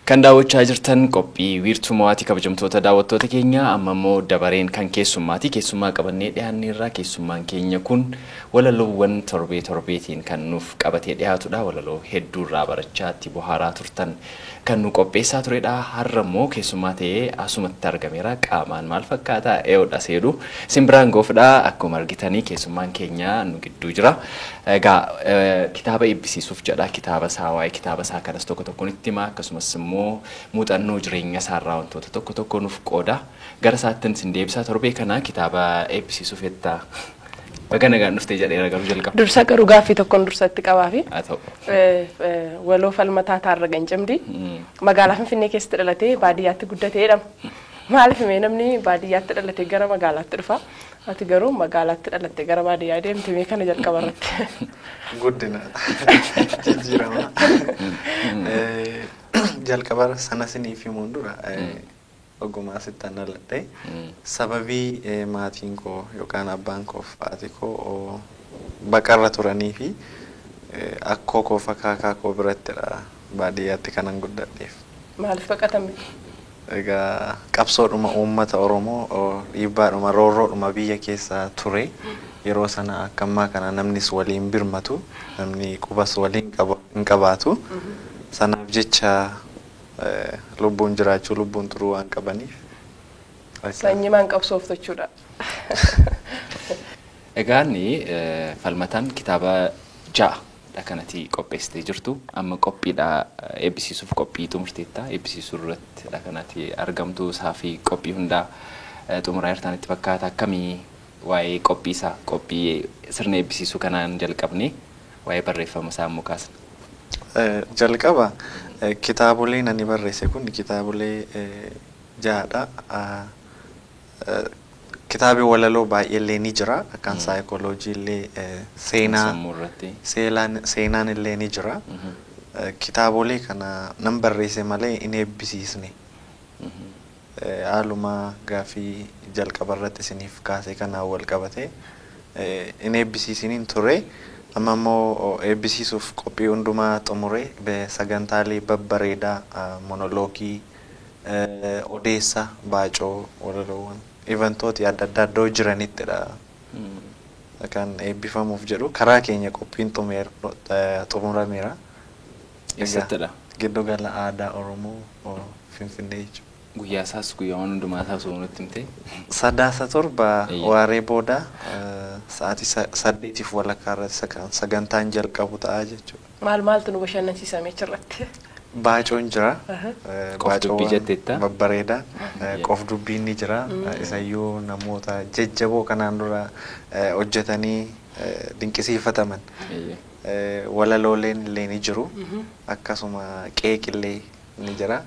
Kan daawwachaa jirtan qophii wiirtuu mo'aati kabajamtoota daawwattoota keenya amma immoo dabareen kan keessummaati keessummaa qabannee dhiyaanneerraa keessummaan keenya kun walaloowwan torbee torbeetiin kan nuuf qabatee dhiyaatudha walaloo hedduurraa barachaatti bohaaraa turtan Kan nu qopheessaa turedha. Har'a immoo keessummaa ta'ee asumatti argameera. Qaamaan maal fakkaata? Eod as eedu. Isin biraan goofdha. Akkuma argitanii keessummaan keenya nu gidduu jira. Egaa kitaaba eebbisiisuuf jedha. Kitaaba isaa waa'ee kitaaba isaa kanas tokko tokko nutti hima. Akkasumas immoo muuxannoo jireenya isaa irraa wantoota tokko tokko nuuf qooda. Gara isaattin isin deebisaa torbee kana kitaaba eebbisiisuuf jettaa. Baga nagaan dhuftee jedheera garuu jalqaba. Dursa garuu gaaffii tokkoon dursatti qabaafi. Haa ta'u. Eh, eh, Waloo falmataa taarra gancimdi. Magaalaa Finfinnee keessatti dhalatee baadiyyaatti guddate jedhama. Maaliif mee namni baadiyyaatti dhalatee gara magaalaatti dhufa? Ati garuu magaalaatti dhalattee gara baadiyyaa deemte mee kana jalqaba irratti. Guddina jijjiirama. Eh, Jalqaba sana isiniif himuun dura eh, Ogumaa sittan dhaladhee sababii maatiin koo yokaan abbaan koof haati koo baqarra turaniifi akkoo koof akaakaa koo birattidha baadiyyaatti kanan guddadheef. Maalif baqatan mee? Egaa qabsoodhuma uummata Oromoo dhiibbaadhuma roorroodhuma biyya keessa ture yeroo sana akka ammaa kana namnis walii hin birmatu namni qubas walii hin qabaatu sanaaf jecha Lubbuun jiraachuu lubbuun turuu waan qabaniif. Sanyimaan qabsooftu jechuudha. Egaa inni falmataan kitaaba ja'a dha kanati qopheessitee jirtu. Amma qophiidha eebbisiisuuf qophii xumurteetta. Eebbisiisuu irratti dha kanati argamtu isaa fi qophii hundaa xumuraa jirtaan itti fakkaata. Akkami waa'ee qophii isaa qophii sirna eebbisiisuu kanaan jalqabnee Waa'ee barreeffama isaa ammoo kaasna. Jalqaba kitaaboleen ani barreesse kun kitaabolee jaha dha. Kitaabi walaloo baay'ee illee ni jira. Akkaan saayikooloojii illee seenaa. Sammuu irratti. Seenaan illee ni jira. Kitaabolee kana nan barreesse malee hin eebbisiisne. Haaluma gaaffii jalqaba irratti isiniif kaase kanaan wal qabatee hin eebbisiisiniin ture. Amma immoo eebbisiisuuf qophii hundumaa xumuree sagantaalee babbareedaa monoloogii, odeessa, baacoo, walaloowwan, eventooti adda addaa iddoo jiranittidha kan eebbifamuuf jedhu. Karaa keenya qophiin xumurameera. Egaa Eessattidha? giddu gala aadaa Oromoo oo, Finfinnee jechuudha. Guyyaa isaas guyyaa waan hundumaa isaa osoo nutti himtee. Sadaasa torba Eeyyee. waaree booda sa'aatii sa- saddeetiif walakkaa irratti sa- kan sagantaan jalqabu ta'a jechuudha. Maal maaltu nu bashannansiisa mee achirratti? Baacoon jira. Aha. Eh, Qof dubbii baacoowwan jetteetta. babbareedaan eh, Eeyyee. qof dubbiin ni jira. Eh, Isayyuu namoota jajjaboo kanaan dura eh, hojjetanii eh, dinqisiifataman Eeyyee. Walalooleen illee ni jiru. Akkasuma qeeqi illee ni jira.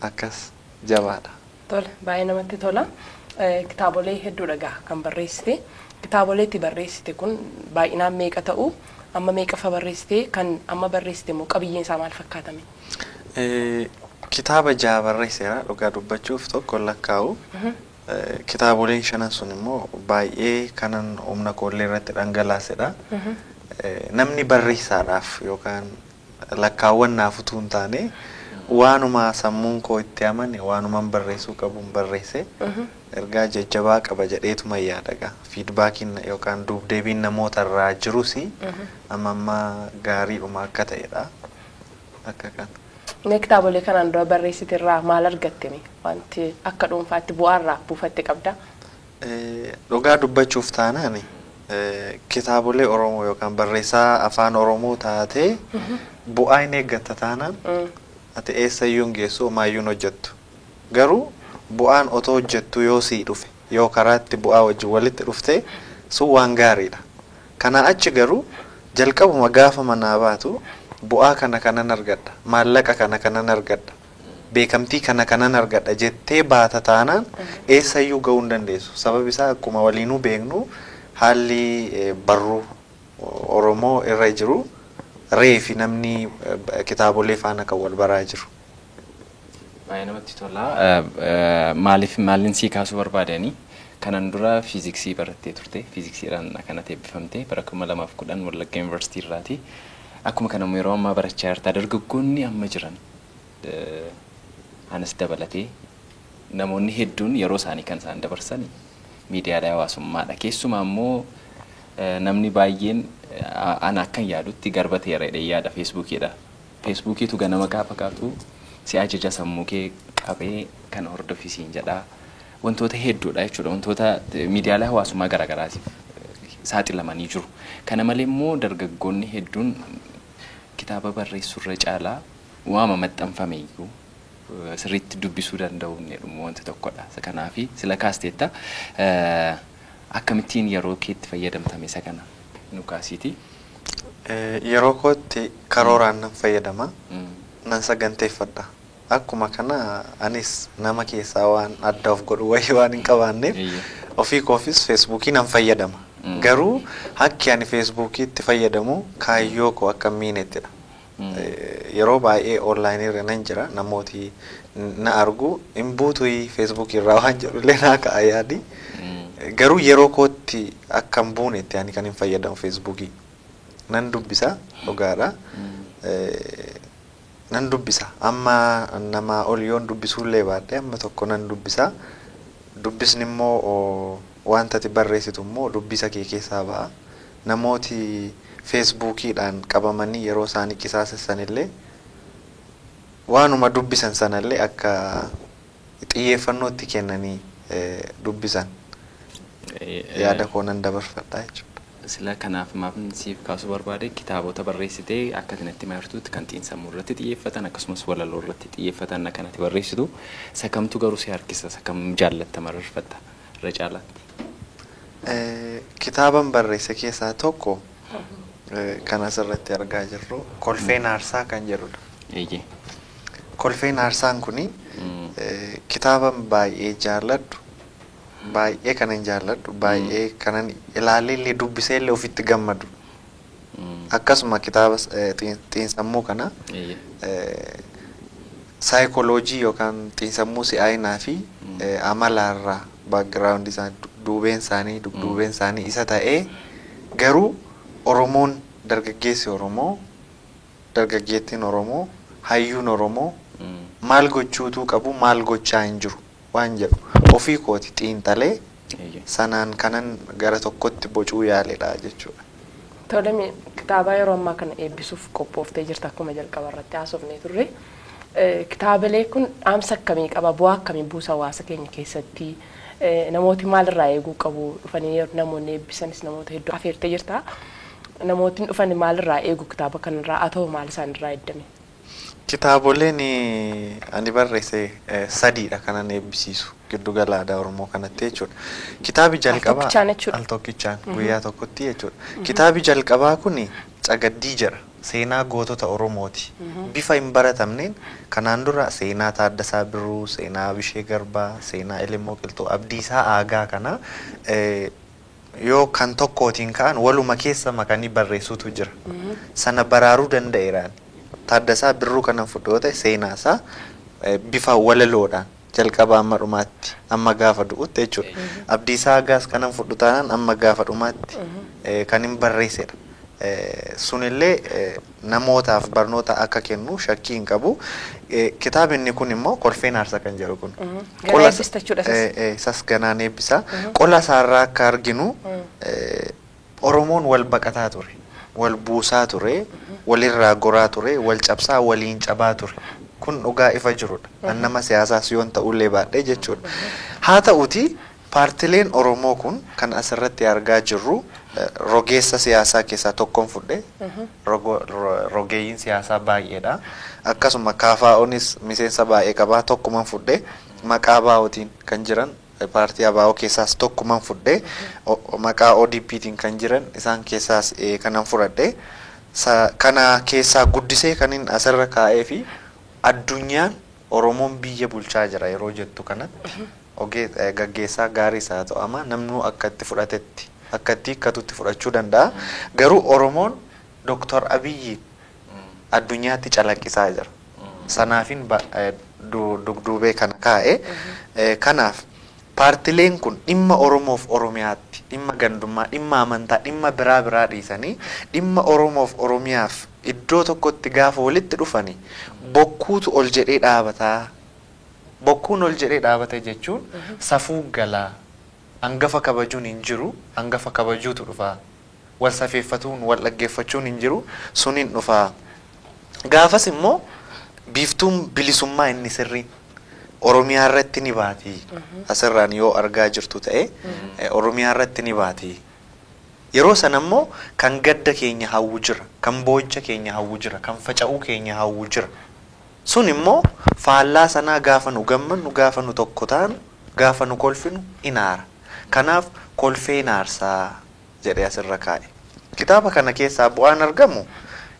Akkas jabaadha. Tole baay'ee namatti tola. Kitaabolee hedduudha egaa kan barreessite. Kitaabolee itti barreessite kun baay'inaan meeqa ta'u? Amma meeqaffa barreessite? Kan amma barreessite immoo qabiyyeen isaa maal fakkaata mee? Kitaaba ja'a barreesseera dhugaa dubbachuuf tokko hin lakkaa'u. Kitaaboleen shanan sun immoo baay'ee kanan humna koollee irratti dhangalaasedha. Namni barreessaadhaaf yookaan lakkaawwan naaf utuu hin taane waanuma sammuun koo itti amane waanuman barreessuu qabuun barreesse ergaa jajjabaa qaba jedheetuma yaadaga. Fiidbaakiin yookaan duubdeebiin namoota irraa jirus amma ammaa gaariidhuma akka ta'edha. akka kan. Mee kitaabolee kanaan dura barreessite irraa maal argatte mee? Wanti akka dhuunfaatti bu'aa irraa buufatte qabdaa? Dhugaa dubbachuuf taanaan kitaabolee Oromoo yookaan barreessaa afaan Oromoo taatee bu'aa hin eeggatta taanaan ati eessayyuu hin geessu homaayyuu hin hojjettu. Garuu bu'aan otoo hojjettuu yoo sii dhufe Yoo karaatti bu'aa wajjin walitti dhufte sun waan gaariidha. Kanaa achi garuu jalqabuma gaafa manaa baatu bu'aa kana kanan argadha, maallaqa kana kanan argadha, beekamtii kana kanan argadha jettee baata taanaan eessayyuu ga'uu hin dandeessu. Sababi isaa akkuma waliinuu beeknu haalli barruu Oromoo irra jiru reefi namni kitaabolee faana kan wal baraa jiru. Baay'ee namatti tola. Maaliif maaliin sii kaasuu barbaadani? Kanan dura fiiziksii barattee turte. Fiiziksiidhaan kanatti eebbifamte bara kuma lamaaf kudhan Wallagga Yuunivarsiitii irraati. Akkuma kana immoo yeroo ammaa barachaa jirta. Dargaggoonni amma jiran anas dabalatee namoonni hedduun yeroo isaanii kan isaan dabarsan miidiyaalee hawaasummaadha. Keessumaa immoo namni baay'een ana akkan yaadutti garba ta'eera jedhee yaada feesbuukiidha. Feesbuukiitu ganama gaafa kaatu si ajaja sammuu kee qabee kana hordofi siin jedha. Wantoota hedduudha jechuudha. Wantoota miidiyaalee hawaasummaa garaagaraatiif saaxilamanii jiru. Kana malee immoo dargaggoonni hedduun kitaaba barreessurra caalaa waama maxxanfame iyyuu sirriitti dubbisuu danda'u inni jedhu immoo wanti tokkodha. Isa kanaafi sila kaasteetta. Akkamittiin yeroo keetti fayyadamtame isa kana nu kaasiiti. Yeroo kootti karooraan nan fayyadama, nan saganteeffadha. Akkuma kana anis nama keessaa waan adda of godhu wayii waan hin qabaanneef ofii koofis feesbuukii nan fayyadama. Garuu hakki ani feesbuukii itti fayyadamu kaayyoo koo akka hin miinettidha. Yeroo baay'ee online irra nan jira namooti na argu hin buutuyi Facebook irraa waan jedhu illee naa ka'a yaadi. Garuu yeroo kootti akka hin buunetti ani kan hin fayyadamu Facebook. Nan dubbisa dhugaadha. Nan dubbisa amma namaa ol yoon dubbisuu illee baadhe amma tokko nan dubbisa. Dubbisni immoo wanta ati barreessitu immoo dubbisa kee keessaa ba'a. Namooti Feesbuukiidhaan qabamanii yeroo isaanii qisaasessan illee waanuma dubbisan sana illee akka xiyyeeffannoo itti kennanii dubbisan yaada koo nan dabarfadha jechuudha. Sila kanaaf maafn siif kaasuu barbaade kitaabota barreessitee akka ati natti himaa jirtutti kan xiinsammuu irratti xiyyeeffatan akkasumas walaloo irratti xiyyeeffatan kan ati barreessitu. Isa kamtu garuu si harkisa? Isa kam jaallatta, mararfatta? irra caalaatti. Kitaaban barreesse keessaa tokko kan asirratti argaa jirru Kolfeen Aarsaa kan jedhudha. Eeyyee. Kolfeen Aarsaan kun kitaaban baay'ee jaalladhu baay'ee kanan jaalladhu baay'ee kanan ilaalee illee dubbisee illee ofitti gammadu Akkasuma kitaaba xiinsammuu kana saayikooloojii yookaan xiinsammuu si'aayinaa fi amalaa irraa background isaanii, duubeen isaanii, dugduubeen isaanii isa ta'ee garuu Oromoon, dargaggeessi Oromoo, dargaggeettiin Oromoo, hayyuun Oromoo maal gochuu utuu qabuu maal gochaa hin jiru? waan jedhu ofii kooti xiinxalee Eeyyee. sanaan kanan gara tokkotti bocuu yaaledha jechuudha. Tole mee kitaabaa yeroo ammaa kana eebbisuuf qophooftee jirta akkuma jalqaba irratti haasofnee turre. Eh, Kitaabilee kun dhaamsa akkamii qaba? Bu'aa akkamii buusa hawaasa keenya keessatti? Eh, Namooti maalirraa eeguu qabu? Dhufanii yeroo namoonni eebbisanis namoota hedduu afeertee jirta. Namootni dhufan maalirraa eegu kitaaba kanarraa? Haa ta'u maal isaanirraa eddame? Kitaaboleen ani barreesse sadiidha kanan eebbisiisu Giddugala Aadaa Oromoo kanatti jechuudha. Kitaabi jalqabaa Altokichaan jechuudha. altokichaan guyyaa tokkotti jechuudha. Kitaabi jalqabaa kun Cagaddii jedha. Seenaa gootota Oromooti. Bifa hin baratamneen kanaan dura seenaa Taaddasaa Birruu, seenaa Abishee Garbaa, seenaa Elemoo Qilxuu, Abdiisaa Aagaa kana Yoo kan tokkootiin ka'an waluma keessa makanii barreessuutu jira. Sana baraaruu danda'eera ani. Taaddasaa Birruu kanan fudhu yoo ta'e seenaasaa bifa walaloodhaan jalqabaa amma dhumaatti amma gaafa du'utti jechuudha. Abdiisaa Agaas kanan fudhu taanaan amma gaafa dhumaatti kanin barreessedha. Sunillee. namootaaf barnoota akka kennu shakkii hin qabu. Kitaaba inni kun immoo kolfeen aarsa kan jedhu kun. Ganaa eebbista jechuudha isas. Isas ganaan eebbisa. Qola isaarraa akka arginu Oromoon wal baqataa ture. Wal buusaa ture. Walirraa goraa ture. Wal cabsaa waliin cabaa ture. Kun dhugaa ifa jirudha. An nama siyaasaas yoon ta'ullee baadhee jechuudha. Haa ta'uti Paartileen Oromoo kun kan as irratti argaa jirru rogeessa siyaasaa keessaa tokkon fudhe, rogeeyyiin siyaasaa baay'eedha. Akkasuma KFOnis miseensa baay'ee qaba, tokkuman fudhe. Maqaa ABOtiin kan jiran paartii abo keessaas tokkuman fudhe. Maqaa ODPtiin kan jiran isaan keessaas kanan fudhadhe. Kana keessaa guddisee kanin as irra kaa'eefi addunyaan Oromoon biyya bulchaa jira yeroo jettu kanatti Ogee, gaggeessaa, gaariis haa ta'u ama namnuu akka itti fudhatetti, akka itti hiikkatutti fudhachuu danda'a. Garuu Oromoon Doktar Abiyyiin addunyaatti calaqqisaa jira. Sanaafin ba, du, dugduubee kana kaa'e. Kanaaf paartileen kun dhimma Oromoof Oromiyaatti, dhimma gandummaa, dhimma amantaa, dhimma biraa biraa dhiisanii dhimma Oromoof Oromiyaaf iddoo tokkotti gaafa walitti dhufani bokkuutu ol jedhee dhaabataa. Bokkuun ol jedhee dhaabate jechuun safuu gala. Angafa kabajuun hin jiru, angafa kabajuutu dhufa. Wal safeeffatuun, wal dhaggeeffachuun hin jiru, sun hin dhufa. Gaafas immoo biiftuun bilisummaa inni sirriin Oromiyaa irratti ni baati. As irraan yoo argaa jirtu ta'e Oromiyaa irratti ni baati. Yeroo sana immoo kan gadda keenya hawwu jira, kan boo'icha keenya hawwu jira, kan faca'uu keenya hawwu jira. Sun immoo faallaa sanaa gaafa nu gammannu, gaafa nu tokko taanu, gaafa nu kolfinu in aara. Kanaaf kolfee in aarsa jedhee as irra kaa'e. Kitaaba kana keessaa bu'aan argamu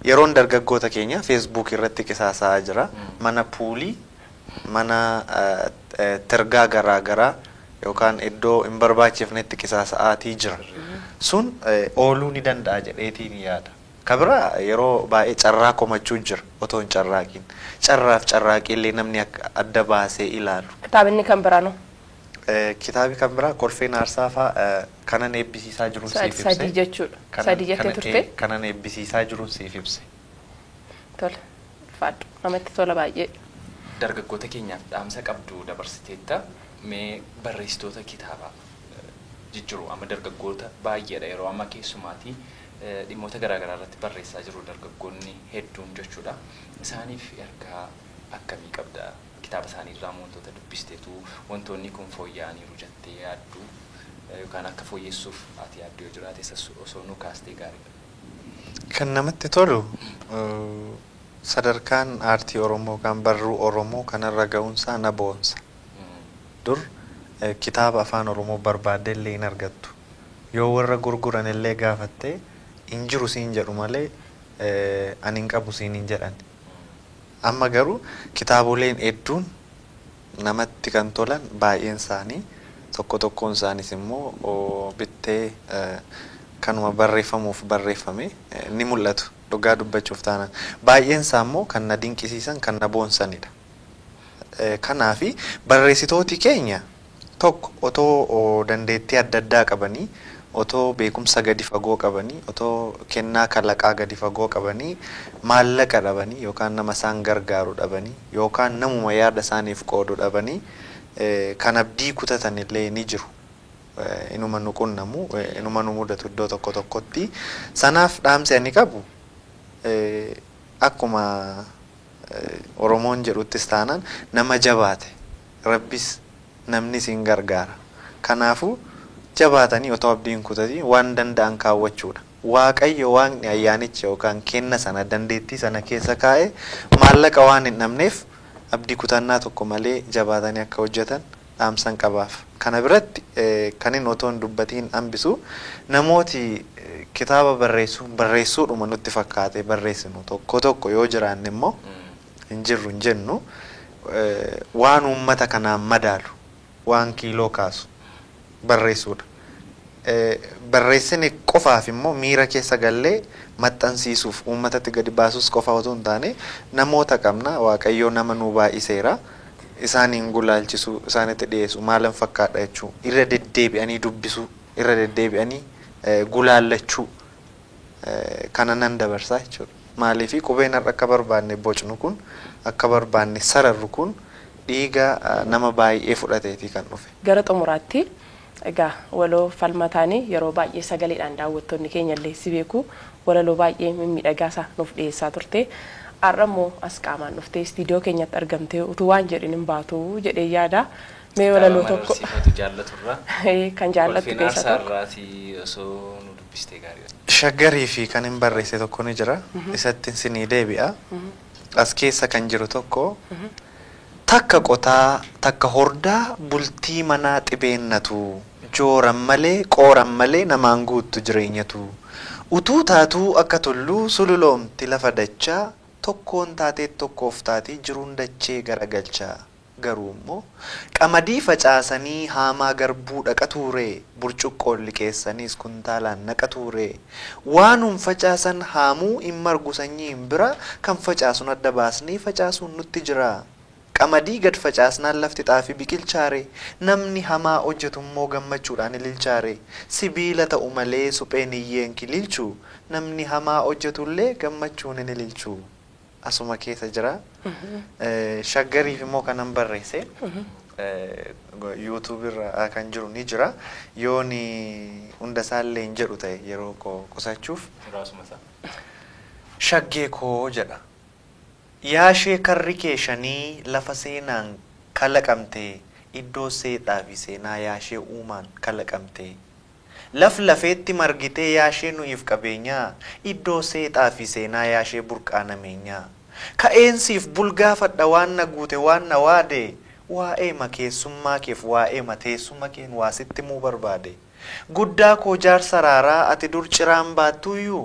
yeroon dargaggoota keenyaa Facebook irratti qisaasa'aa jira. Mana puulii, mana tergaa garaa garaa yookaan iddoo hin barbaachifnetti qisaasa'aatii jira. Sun ooluu ni danda'a jedheetiin yaada. Ka biraa yeroo baay'ee carraa komachuu jira otoo hin carraaqiin. Carraaf carraaqii illee namni akka adda baasee ilaalu. Kitaaba inni kan biraan hoo? Kitaabi kan biraa Kolfee Naarsaa faa kanan eebbisiisaa jiruun Sa- siif ibse. sadii jechuudha. Kanan- Sadii jettee kanan- turte? ee, Kanan eebbisiisaa jiruun siif ibse. Tole. Ulfaadhu. Namatti tola baay'ee. Dargaggoota keenyaaf dhaamsa qabdu dabarsiteetta. Mee barreessitoota kitaabaa eh, jijjiru amma dargaggoota baay'eedha yeroo amma keessumaatii dhimmoota garaa garaa irratti barreessaa jiru dargaggoonni hedduun jechuudha. Isaaniif ergaa akkamii qabda? Kitaaba isaanii irraa immoo wantoota dubbisteetu wantoonni kun fooyya'aniiru jettee yaaddu yookaan akka fooyyessuuf ati yaaddu yoo jiraate isas osoo nuu kaastee gaariidha. Kan namatti tolu sadarkaan aartii Oromoo yookaan barruu Oromoo kanarra ga'uunsaa na boonsa. Dur kitaaba Afaan Oromoo barbaaddee illee hin argattu. Yoo warra gurguran illee gaafatte hin jiru siin jedhu malee ani hin qabu siin hin jedhan. Amma garuu kitaaboleen hedduun namatti kan tolan baay'een isaanii tokko tokkoon isaaniis immoo bittee kanuma barreeffamuuf barreeffame ni mul'atu. Dhugaa dubbachuuf taanaan baay'een isaa immoo kan na dinqisiisan kan na boonsanidha. Kanaaf, barreessitooti keenya tokko otoo dandeettii adda addaa qabanii, otoo beekumsa gadi fagoo qabanii, otoo kennaa kalaqaa gadi fagoo qabanii, maallaqa dhabanii yookaan nama isaan gargaaru dhabanii yookaan namuma yaada isaaniif qoodu dhabanii kan abdii kutatan illee ni jiru. Inuma nu qunnamu, inuma nu mudatu iddoo tokko tokkotti. Sanaaf dhaamsi ani qabu akkuma Oromoon jedhuttis taanaan nama jabaate Rabbis namnis hin gargaara. Kanaafuu jabaatanii otoo abdii hin kutatiin waan danda'an kaawwachuudha. Waaqayyo Waaqni ayyaanicha yookaan kenna sana dandeettii sana keessa kaa'e maallaqa waan hin dhabneef abdii kutannaa tokko malee jabaatanii akka hojjetan dhaamsan qabaaf. Kana biratti kanin otoo hin dubbatiin hambisu namooti kitaaba barreessuun barreessuudhuma nutti fakkaatee barreessinu tokko tokko yoo jiraanne immoo hin jirru hin jennu waan uummata kanaan madaalu waan kiiloo kaasu barreessuudha. barreessine qofaaf immoo miira keessa gallee maxxansiisuuf, uummatatti gadi baasuus qofa otuu hin taane, namoota qabna, Waaqayyoo nama nuu baay'iseera, isaaniin gulaalchisuu, isaanitti dhiyeessu, maalan fakkaadha jechuu, irra deddeebi'anii dubbisuu, irra deddeebi'anii gulaallachuu kana nan dabarsaa jechuudha. Maaliif qubeen har'a akka barbaanne bocnu kun, akka barbaanne sararru kun dhiiga nama baay'ee fudhateetii kan dhufe. Gara xumuraatti, Egaa waloo falma taanee yeroo baay'ee sagaleedhaan daawwattoonni keenya illee si beeku walaloo baay'ee mimmiidhagaa isaa nuuf dhiyeessaa turte har'a immoo as qaamaan dhuftee istiidiyoo keenyatti argamtee utuu waan jedhin hin baatu jedheen yaada mee Qaama walaloo tokko mararsiifatu jaallatu irraa Ee, kan jaallattu kolfiin keessa aarsaa tokko irraati osoo nu dubbistee gaarii dha. Shaggarii fi kanin barreesse tokko ni jira. Isattin sinii deebi'a. As keessa kan jiru tokko. Takka qotaa takka hordaa bultii manaa xibeennatu jooran malee qooran malee namaan guuttu jireenyatu utuu taatuu akka tulluu sululoomti lafa dachaa tokkoon taateet tokkoof taatii jiruun dachee garagalcha garuummoo qamadii facaasanii haamaa garbuu dhaqatuuree Burcuqqoon liqeessaniis kuntaalaan naqatuu ree? Waanum facaasan haamuu hin margu sanyii hin bira kan facaasun adda baasnee facaasuun nutti jira. Qamadii gad facaasnaan lafti xaafii biqilchaa ree? Namni hamaa hojjetummoo gammachuudhaan ililchaa ree? Sibiila ta'u malee supheen hiyyeen kililchu, namni hamaa hojjetullee gammachuun hin ililchu. asuma keessa jira. Shaggariif immoo kanan barreesse YouTube irra kan jiru ni jira. Yoon hunda isaa illee hin jedhu ta'e yeroo koo qusachuuf. Jiraasuma isaa. Shaggee koo jedha. Yaa ishee karri kee shanii lafa seenaan kalaqamte iddoo seexaa fi seenaa yaa ishee uumaan kalaqamte Laf lafeetti margitee yaashee nu'iif qabeenyaa Iddoo seexaa fi seenaa yaashee burqaa nameenyaa Ka'een siif bul gaafadha waan na guute waan na waade Waa'eema keessummaa keef waa'eema teessuma keen waa sitti himuu barbaade Guddaa koo jaarsa raaraa ati dur ciraan baattuuyyuu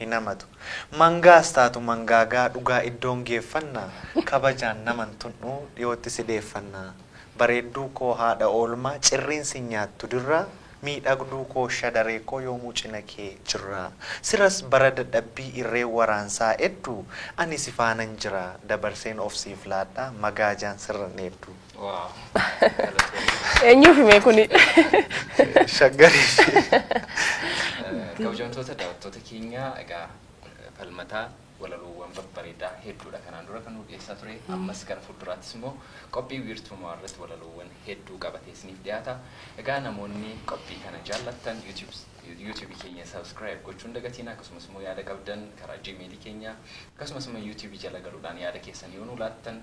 hin hamatu. Mangaas taatu mangaagaa dhugaa iddoon geeffanna kabajaan naman tun'u dhiyootti si deeffanna. Bareedduu koo haadha oolmaa cirriin sin nyaattu dirra miidhagduu koo shadaree koo yoomuu cina kee jirra. Siras bara dadhabbii irreen waraansaa eddu ani si faanan jira dabarseen of siif laadha magaajaan sirran eeddu. Waaw. Eenyuuf himee kuni? Shaggarii. Kabajamtoota daawwattoota keenyaa egaa eh, falmataa walaloowwan babbareedaa hedduudha kanaan dura kan nu dhiyeessaa ture ammas gara fuulduraattis immoo qophii wiirtuu mo'aa irratti walaloowwan hedduu qabatee isiniif dhiyaata egaa namoonni qophii kana jaallattan yuutuubii keenya sabiskiraayib gochuun dagatiin akkasumas immoo yaada qabdan karaa jiimeelii keenya akkasumas immoo yuutuubii jala galuudhaan yaada keessan yoo nu laattan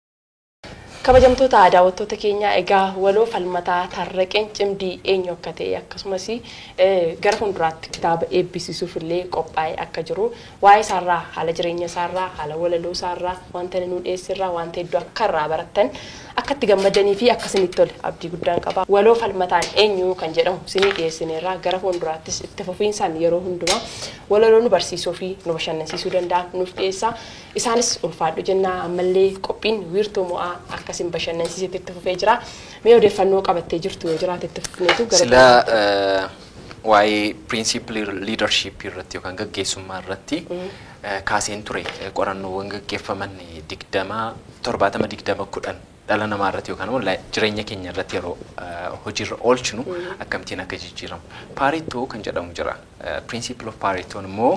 Kabajamtoota daawwattoota keenyaa egaa waloo falmataa Taarraqeny Cimdii eenyu akka ta'e akkasumas gara fuulduraatti kitaaba eebbisiisuuf illee qophaa'ee akka jiru waa'ee isaarraa haala jireenya isaarraa haala walaloo isaarraa wanta inni nuu dhiyeesse irraa wanta hedduu akka irraa barattan akka itti gammadanii fi akka isinitti tole abdii guddaan qaba. Waloo falmataan eenyu kan jedhamu isinii dhiyeessineerraa gara fuulduraattis itti fufiinsaan yeroo hundumaa walaloo nu barsiisuu fi nu bashannansiisuu danda'an nuuf dhiyeessaa. Isaanis ulfaadhu jenna ammallee qophiin wiirtuu mo'aa akka sin bashannansiisetti itti fufee jira. Mee odeeffannoo qabattee jirtu yoo jiraate itti fufneetu gara Sila xumuraatti. eh, waa'ee principle leadership irratti yookaan gaggeessummaa irratti eh, kaaseen ture Eh, qorannoowwan gaggeeffaman eh, digdama torbaatama digdama kudhan dhala namaa irratti yookaan immoo la- jireenya keenya irratti yeroo eh, hojiirra oolchinu akkamittiin akka jijjiiramu. Paareettoo kan jedhamu jira. Eh, Principle of Paareettoon immoo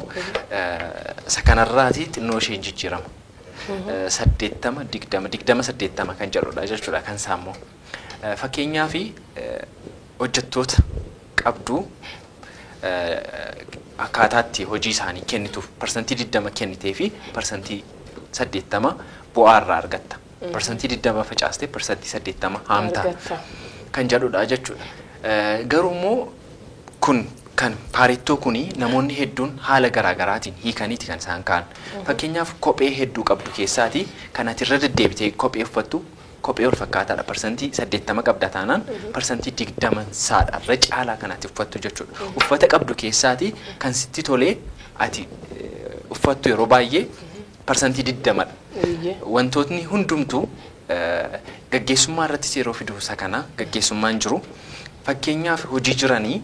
eh, isa kanarraati xinnoo ishee hin jijjiiramu. Eh, Saddeettama, digdama, digdama saddeettama kan jedhudha jechuudha kan isaa immoo. Eh, Fakkeenyaa fi eh, hojjettoota qabdu eh, akkaataatti hojii isaanii kennituuf parsantii 20 kennitee fi parsantii 80 bu'aa irraa argatta. Parsantii 20 facaastee parsantii 80 haamta Argatta. kan jedhudha jechuudha. Eh, Garuu immoo kun kan paarettoo kuni namoonni hedduun haala garaa garaatiin hiikaniiti kan isaan ka'an. Fakkeenyaaf kophee hedduu qabdu keessaati kan ati irra deddeebitee kophee uffattu kophee wal fakkaataadha. Parsantii 80 qabda taanaan parsantii 20 saadha irra caalaa kan ati uffattu jechuudha. Uffata qabdu keessaati kan sitti tolee ati eh, uffattu yeroo baay'ee parsantii 20 dha. Eeyyee. Wantootni hundumtu gaggeessummaa irrattis yeroo fidu isa kana gaggeessummaan jiru fakkeenyaaf hojii jiranii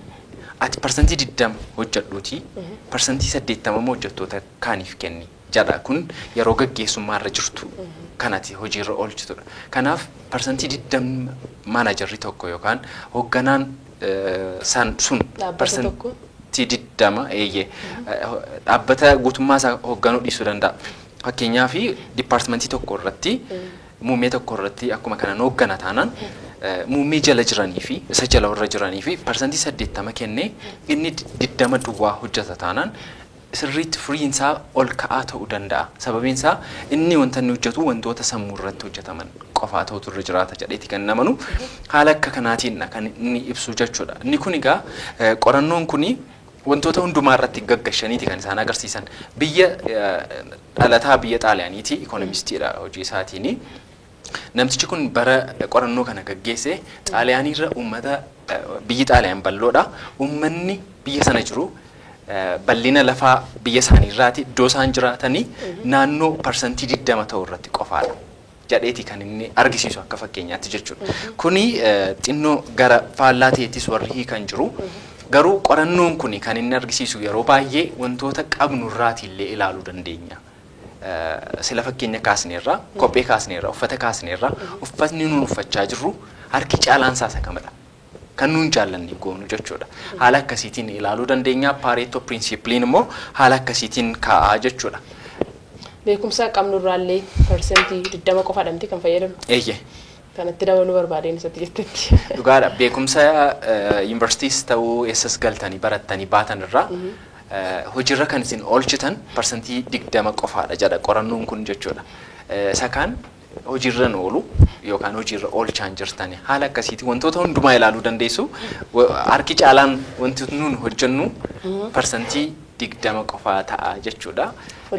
ati parsantii 20 hojjedhuutii parsantii 80 immoo hojjettoota kaaniif kenni jedha. Kun yeroo gaggeessummaa irra jirtu kan ati hojiirra oolchitudha. Kanaaf parsantii 20 maanajarri tokko yookaan hoogganaan san sun Dhaabbata parsantii tokko. diddama eeyyee dhaabbata guutummaa isaa hoogganuu dhiisuu danda'a. Fakkeenyaaf dipaartimentii tokko irratti muummee tokko irratti akkuma kana hooggana taanaan eh, muummee jala jiranii fi isa jala warra jiranii fi parsantii saddeettama kennee inni diddama duwwaa hojjeta taanaan sirriitti firiin isaa ol ka'aa ta'u danda'a. Sababiin isaa inni wanta inni hojjetu wantoota sammuu irratti hojjetaman qofaa ta'utu irra jiraata jedheeti kan inni amanu. Haala akka kanaatiinidha kan inni ibsu jechuudha. Inni kun egaa qorannoon kun wantoota hundumaa irratti gaggashaniiti kan isaan agarsiisan. Biyya dhalataa biyya Xaaliyaaniiti, ikonomistiidha hojii isaatiini. Namtichi kun bara qorannoo kana gaggeesse Xaaliyaaniirra uummata biyyi Xaaliyaan bal'oodha. Uummanni biyya sana jiru bal'ina lafaa biyya isaaniirraati iddoo isaan jiraatanii naannoo parsantii 20 ta'u irratti qofaadha. jedheeti kan inni argisiisu akka fakkeenyaatti jechuudha. Kuni xinnoo gara faallaa ta'eettis warri hiikan jiru. Garuu qorannoon kun kan inni argisiisu yeroo baay'ee wantoota qabnu irraati illee ilaaluu dandeenya. Sila fakkeenya kaasneerra, kophee kaasneerra, uffata kaasneerra. Uffatni nuun uffachaa jirru harki caalaan isaa isa kamidha? Kan nuun jaallanne hin goonu jechuudha. Haala akkasiitiin ilaaluu dandeenya. Paareettoo piriinsiippiliin immoo haala akkasiitiin kaa'a jechuudha. Beekumsa qabnurraallee parsantii 20 qofaadha miti kan fayyadamnu? Eeyyee. Kan itti dabaluu barbaadeen isatti jettetti. Dhugaadha. Beekumsa yuunivarsiitiis ta'uu eessas galtanii barattanii baatan irraa hojiirra kan isin oolchitan parsantii digdama qofaadha jedha qorannoon kun jechuudha. Isa kaan hojiirra hin oolu yookaan hojiirra oolchaa hin jirtani. Haala akkasiitiin wantoota hundumaa ilaaluu dandeessu. Harki caalaan wanti nuun hojjennu parsantii digdama qofaa ta'a jechuudha.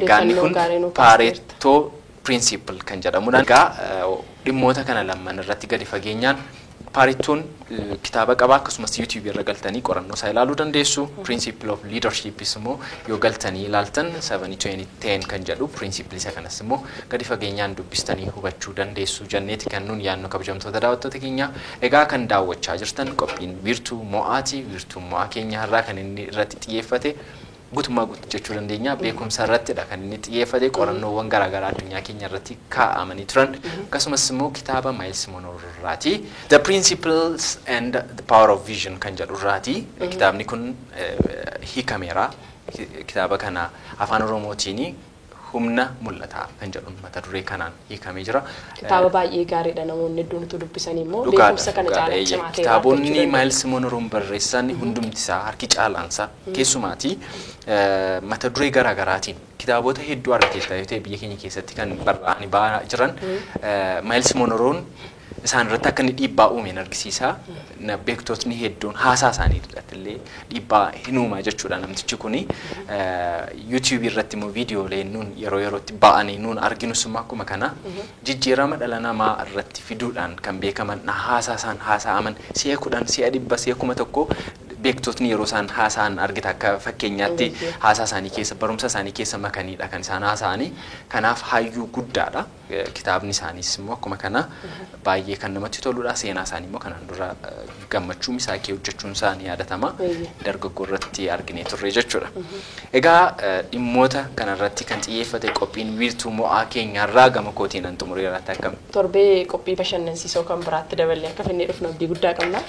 Gaanni kun paareettoo principle kan jedhamudha. Egaa dhimmoota kana lamman irratti gadi fageenyaan Paarituun kitaaba qaba akkasumas YouTube irra galtanii qorannoo isaa ilaaluu dandeessu. Principle of leadershipis immoo yoo galtanii ilaaltan 7-20-10 kan jedhu principle isa kanas immoo gadi fageenyaan dubbistanii hubachuu dandeessu jenneeti kan nuun yaadnu kabajamtoota daawwattoota keenya. Egaa kan daawwachaa jirtan qophiin wiirtuu mo'aati. Wiirtuun mo'aa keenya har'aa kan inni irratti xiyyeeffate Guutummaa guututti jechuu dandeenya beekumsa irrattidha kan inni xiyyeeffate qorannoowwan garaa garaa addunyaa keenya irratti kaa'amanii turan akkasumas immoo kitaaba Miles Monroe irraati The Principles and the Power of Vision kan jedhu irraati kitaabni kun hiikameera kitaaba kana afaan oromootiin Humna Mul'ataa kan jedhuun mata duree kanaan hiikamee jira. Kitaaba baay'ee gaariidha namoonni hedduun utuu dubbisanii immoo Dhugaadha, beekumsa kana dhugaadha, caalaa eeyyee. cimaa ta'e irraa argachuu Kitaabonni danda'u. Maayils Monoroon barreessan hundumti isaa harki caalaan isaa keessumaati eh, mata duree garaa garaatiin kitaabota hedduu argiteetta yoo ta'e biyya keenya keessatti kan barraa'anii ba'aa jiran eh, Maayils Monoroon isaan irratti akka inni dhiibbaa uumeen argisiisa. Na- Beektotni hedduun haasaa isaanii irratti illee dhiibbaa hin uumaa jechuudha namtichi kuni. Yuutuubii irratti immoo viidiyoolee nuun yeroo yerootti ba'anii nuun arginus immoo akkuma kana jijjiirama dhala namaa irratti fiduudhaan kan beekaman dha. haasaa isaan haasa'aman si'a kudhan si'a dhibba si'a kuma tokko beektotni yeroo isaan haasa'an argita akka fakkeenyaatti Eeyyee. haasaa isaanii keessa barumsa isaanii keessa makaniidha kan isaan haasa'anii kanaaf hayyuu guddaadha. Kitaabni isaaniis immoo akkuma kana baay'ee kan namatti toludha. Seenaa isaanii immoo kanaan dura gammachuu misaakii hojjechuun isaa ni yaadatama. Dargaggoo irratti arginee turre jechuudha. Egaa dhimmoota kanarratti kan xiyyeeffate qophiin wiirtuu mo'aa keenyaarraa gama kootiin an xumuree irratti akkam? Torbee qophii bashannansiisoo kan biraatti daballee akka finnee dhufnu abdii guddaa qabna.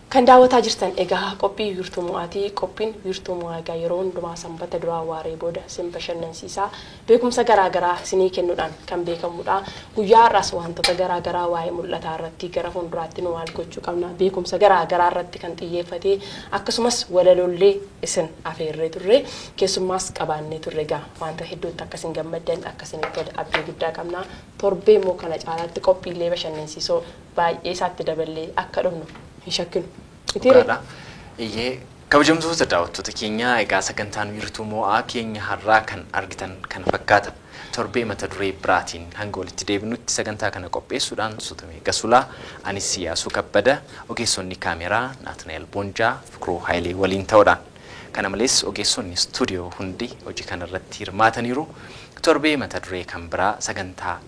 Kan daawwataa jirtan egaa qophii Wiirtuu Mo'aati. Qophiin Wiirtuu Mo'aa egaa yeroo hundumaa Sanbata duraa waaree booda sin bashannansiisa. Beekumsa garaa garaa isinii kennuudhaan kan beekamuudha. Guyyaa har'aas waantota garaa garaa waa'ee mul'ataa irratti gara fuulduraatti nu maal gochuu qabna beekumsa garaa garaa irratti kan xiyyeeffate akkasumas walalollee isin afeerree turre. Keessummaas qabaannee turre egaa waanta hedduutti akka isin gammaddan akka isinii tole abdii guddaa qabna. Torbee immoo kana caalaatti qophiilee bashannansiisoo baay'ee isaatti daballee akka dhufnu hin shakkinu. Itti hiree. Dhugaadha. Eeyyee kabajamtoota daawwattoota keenyaa egaa sagantaan wiirtuu moo'aa keenya har'aa kan argitan kana fakkaata. Torbee mata duree biraatiin hanga walitti deebinutti sagantaa kana qopheessuudhaan Sutumee Gasulaa, anis Siyaasuu Kabbada, ogeessonni kaameeraa Naatnaa'el Boonjaa, Fikruu Haayilee waliin ta'uudhaan. Kana malees ogeessonni istuudiyoo hundi hojii kanarratti hirmaataniiru. Torbee mata duree kan biraa sagantaa